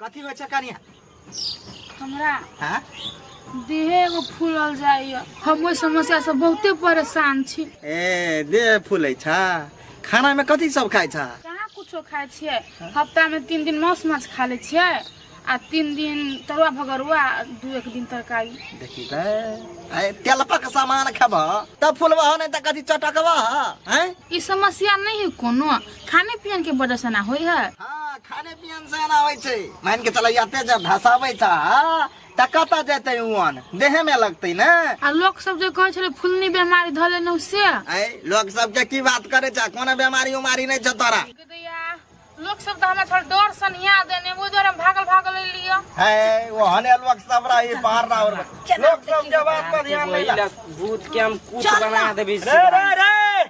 कथी होइ छै कनिया हमरा हाँ? देहे एगो फूलल जाइए हम ओहि समस्या से बहुते परेशान छी ए देह फूलै छा खाना में कथी सब खाइ छा कहाँ कुछो खाइ छियै हफ्ता में तीन दिन मांस माछ खा लै छियै आ तीन दिन तरुआ भगरुआ आ दू एक दिन तरकारी देखी त आए तेलपा के सामान खेबह तब फूलबह नहीं त कथी चटकबह हैं ई समस्या नहीं है कोनो खाने पियन के वजह से ना होई है हाँ खाने पियन से ना होई छै मान के चला जाते जब धसाबै छ त कता जेतै उन देहे में लगतै ना आ लोग सब जे कहै छले फुलनी बीमारी धले न से ए लोग सब के की बात करे छ कोना बीमारी उमारी नै छ तोरा लोग सब त हमरा थोड़ा डर सन हिया देने वो दर भागल भागल लियो है वो हने लोग सब रही बाहर ना और लोग सब के बात पर ध्यान नहीं भूत के हम कुछ बना देबी रे रे रे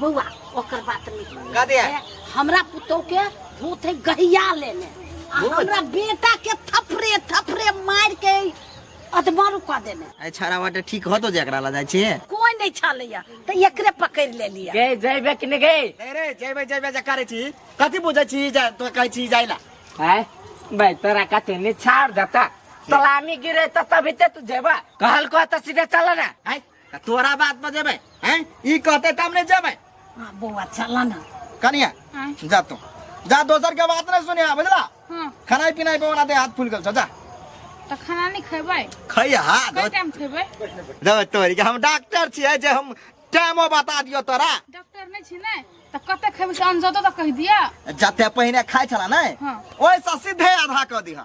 बौआ ओकर बात नहीं का दिया? ए, हमरा पुतोह के भूत है गहिया लेने आ भूत? हमरा बेटा के थपरे थपरे मार के अधमर कऽ देने आई छाड़ा वाटे ठीक हो तो जकरा ला जाय छे कोई नहीं छलैया तो एकरे पकड़ ले लिया गए जैबे कि नहीं गए अरे जयबे जयबे जकारे छी कथि बुझै छी जा तो कहै छी जाइला हैं भाई तोरा कते नहीं छाड़ देता सलामी गिरे तो तभी ते तू जेबा कहल को तो सीधे चला ना आई आ तोरा बात पर जेबै हैं ई कहते तब ने जेबै हाँ बउआ चला ना कनिया हाँ। जा तू जा दोसर के बात नहीं सुनिया बुझला हाँ खाना पीना पे ओना दे हाथ फूल गल छ, जा तो खाना नहीं खेबै खै हाथ कई टाइम खेबै दो तोरी के हम डॉक्टर छियै जे हम टाइमो बता दियो तोरा डॉक्टर नहीं छी ने तो कते खेबै से अनजतो तो कह दिया जते पहिने खाइ छला नै हाँ। ओइसँ सीधे आधा कऽ दिहा